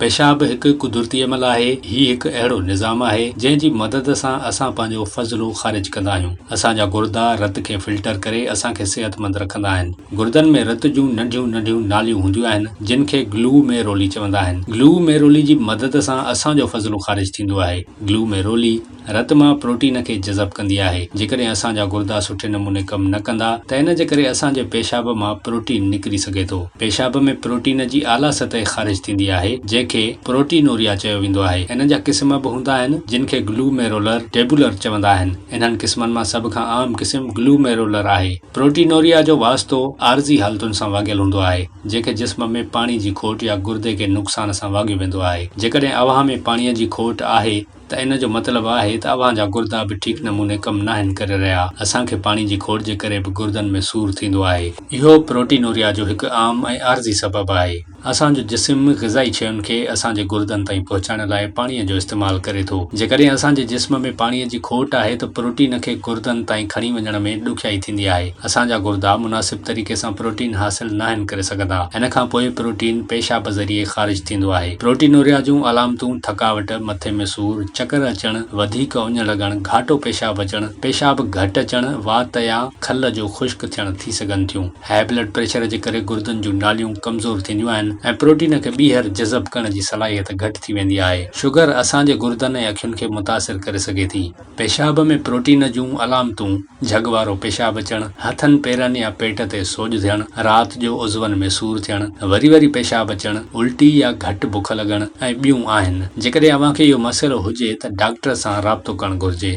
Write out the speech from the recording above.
پيشاب هڪ قدرتي عمل آهي. هي هڪ اهڙو نظام آهي، جنهن جي مدد سان اسان پنهنجو فضلو خارج ڪندا آهيون. اسان جا گردا رت کي فلٽر ڪري اسان کي صحتمند رکندا آهن. گردن ۾ رت جون ننڍيون ننڍيون ناليون هونديون آهن، جن کي گلو ميرولي چوندا آهن. گلو ميرولي جي مدد سان اسان جو فضلو خارج ٿيندو آهي. گلو ميرولي. رت مان پروٽين کي جذب ڪندي آهي، جيڪڏهن اسان جا گردا سٺي نموني ڪم نه ڪندا ته ان جي ڪري اسان جي پيشاب مان پروٽين نڪري سگهي ٿو. پيشاب ۾ پروٽين جي اعليٰ سطح خارج ٿيندي آهي، جنهن کي پروٽينوريا چيو ويندو آهي. انهن جا قسم به هوندا آهن، جن کي گلوميرولر ٽيبولر چوندا آهن. انهن قسمن مان سڀ کان عام قسم گلوميرولر آهي. پروٽينوريا جو واسطو عارضي حالتن سان واڳيل هوندو آهي، جنهن کي جسم ۾ پاڻي جي کوٽ يا گردي کي نقصان سان واڳيو ويندو آهي. جيڪڏهن اوهان ۾ پاڻيء جي کوٽ آهي ته ان جو مطلب آهي ته اوهان جا گردا به ٺيڪ نموني ڪم ناهن ڪري رهيا. اسان کي پاڻي جي کوٽ جي ڪري به گردن ۾ سور ٿيندو آهي. اهو پروٽينوريا جو هڪ عام ۽ عارضي سبب آهي. اسان جو جسم غذائي شين کي اسان جي گردن تائين پهچائڻ لاء پاڻي جو استعمال ڪري ٿو. جيڪڏهن اسان جي جسم ۾ پاڻي جي کوٽ آهي ته پروٽين کي گردن تائين کڻي وڃڻ ۾ ڏکيائي ٿيندي آهي. اسان جا گردا مناسب طريقي سان پروٽين حاصل ناهن ڪري سگهندا. ان کان پوء پروٽين پيشاب ذريعي خارج ٿيندو آهي. پروٽينوريا جون علامتون ٿڪاوٽ، مٿي ۾ سور، چڪر اچڻ، وڌيڪ اڃ لڳڻ، گهاٽو پيشاب اچڻ، پيشاب گهٽ اچڻ، وات يا کل جو خشڪ ٿيڻ ٿي سگهن ٿيون. هاء بلڊ پريشر جي ڪري گردن جون ناليون ڪمزور ٿينديون آهن ۽ پروٽين کي ٻيهر جذب ڪرڻ جي صلاحيت گهٽ ٿي ويندي آهي. شگر اسان جي گردن ۽ اکين کي متاثر ڪري سگهي ٿي. پيشاب ۾ پروٽين جون علامتون، جھڳ وارو پيشاب اچڻ، ھٿن پيرن يا پيٽ تي سوڄ ٿيڻ، رات جو عضون ۾ سور ٿيڻ، وري وري پيشاب اچڻ، الٽي يا گھٽ بک لڳڻ ۽ ٻيون آھن. جيڪڏھن اوھان کي اھو مسئلو ھجي ته ڊاڪٽر سان رابطو ڪرڻ گھرجي.